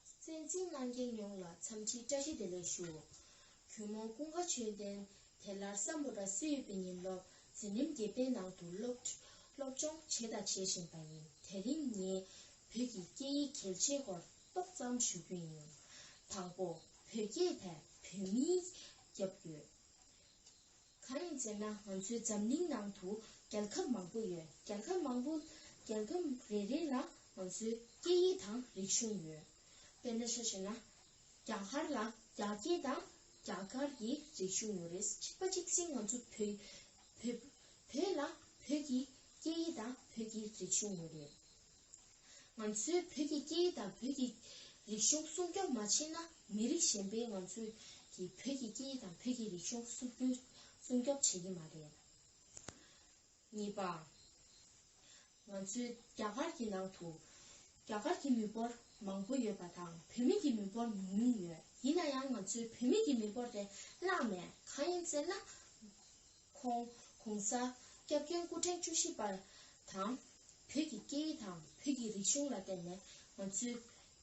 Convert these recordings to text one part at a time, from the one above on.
བཙན་འཛིན་གནང་མཁན་ཡོངས་ལ་འཚམས་འདྲི་བཀྲ་ཤིས་བདེ་ལེགས་ཞུ། གུས་མོ་ཀུན་དགའ་ཆོས་ལྡན་དེ་ལར་བསམ་བློ་དྲག་སེ་ཡོད་པའི་ཉིན་སློབ་འཛིན་རིམ་བརྒྱད་པའི་ནང་དུ་སློབ་སློབ་སྦྱོང་བྱས་དང་བྱེད་བཞིན་པ་ཡིན་དེ་རིང་ངས་བོད་ཀྱི་སྐད་ཡིག་གལ་ཆེ་སྐོར་ཏོག་ཙམ་ཞུ་རྒྱུ་ཡིན། དང་པོ་བོད་སྐད་དེ་བོད་མིའི་རྒྱབ་ཡོད། གང་ཡིན་ཟེར་ན་ང་ཚོའི་འཛམ་གླིང་ནང་དུ་རྒྱལ་ཁབ་མང་པོ་ཡོད་རྒྱལ་ཁབ་མང་པོ་རྒྱལ་ཁབ་རེ་རེ་ལ་ང་ཚོའི་སྐད་ཡིག་དང་རིག་གཞུང་ཡོད། དཔེར་ན་ཤ་ཞེས་ན་རྒྱ་གར་ལ་རྒྱ་སྐད་དང་རྒྱ་གར་གྱི་རིག་གཞུང་ཡོད་རེད་ཅིག་པ་ཅིག་ཟིན་ང་ཚོ་བོད་བོད་བོད་ལ་བོད་ཀྱི་སྐད་ཡིག་དང་བོད་ཀྱི་རིག་གཞུང་ཡོད་རེད། ང་ཚོའི་བོད་ཀྱི་སྐད་ཡིག་དང་བོད་ཀྱི་རིག་གཞུང་སྲུང་སྐྱོབ་མ་བྱེད་ན་མི་རིགས་གཞན་པས་ང་ཚོའི་ཀྱི་བོད་ཀྱི་སྐད་ཡིག་དང་བོད་ཀྱི་རིག་གཞུང་སྲུབ་སྐྱོལ་སྲུང་སྐྱོབ་བྱེད་ཀྱི་མ་རེད། གཉིས་པ། ང་ཚོའི་རྒྱ་གར་གྱི་ནང་དུ་རྒྱ་གར་གྱི་མི་འབོར་མང་པོ་ཡོད་པ་དང་བོད་མི་གྱི་མི་འབོར་ཉུང་ཉུང་ཡོད་ཡིན་ན་ཡང་ང་ཚོའི་བོད་མི་གྱི་མི་འབོར་དེ་བརླགས་ནས་གང་ཡིན་ཟེར་ན། ཁོང ྋགོང་ས ྋསྐྱབས་མགོན་སྐུ་ཕྲེང་བཅུ་བཞི་པ་དང། བོད་ཀྱི་སྐད་ཡིག་དང་བོད་ཀྱི་རིག་གཞུང་ལ་བརྟེན་ནས་ང་ཚོའི་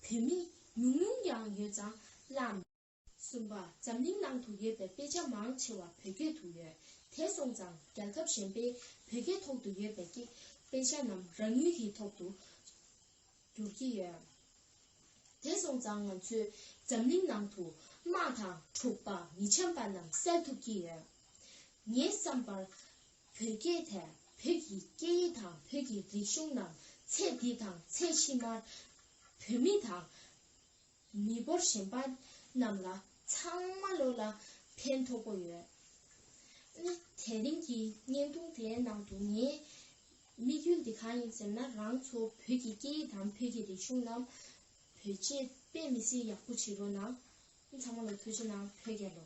བོད་མི་ཉུང་ཉུང་ཡང་ཡོད་ཙང་བླ། གསུམ་པ་འཛམ་གླིང་ནང་དུ་ཡོད་པའི་དཔེ་ཆ་མང་ཆེ་བ་བོད་སྐད་དུ་ཡོད་དེ་སོང་ཙང་རྒྱལ་ཁབ་གཞན་པའི་བོད་སྐད་ཐོག་ཏུ་ཡོད་པའི་སྐད་དཔེ་ཆ་རྣམས་རང་ཡུལ་གྱི་ཐོག་ཏུ་བསྒྱུར་གྱི་ཡོད། དེ་སོང་ཙང་ང་ཚོའི་འཛམ་གླིང་ནང་དུ་དམག་དང་འཁྲུག་པ་མི་འཆམ་པ་རྣམས་སེལ་ཐུབ་ཀྱི་ཡོད། ངས་བསམ་པར། བོད་སྐད་དེ་བོད་ཀྱི་སྐད་ཡིག་དང་བོད་ཀྱི་རིག་གཞུང་ནང་ཚད་འདི་དང་ཚད་ཕྱི་མར་བོད་མི་དང། མི་འབོར་གཞན་པ་རྣམས་ལ་ཚང་མ་བློ་ལ་ཕན་ཐོགས་པོ་ཡོད། དེ་རིང་གི་བརྙན་ཐུང་དེའི་ནང་དུ་ངའི་དམིགས་ཡུལ་འདི་གང་ཡིན་ཟེར་ན་རང་ཚོ་བོད་ཀྱི་སྐད་ཡིག་དང་བོད་ཀྱི་རིག་གཞུང་རྣམས་བོད་སྤྱི་པས་མི་སེར་ཡག་པོ་བྱེད་རོགས་གནང། ཚང་མ་ལོ་ཐུགས་རྗེ་གནང་བོད་རྒྱལ་ལོ།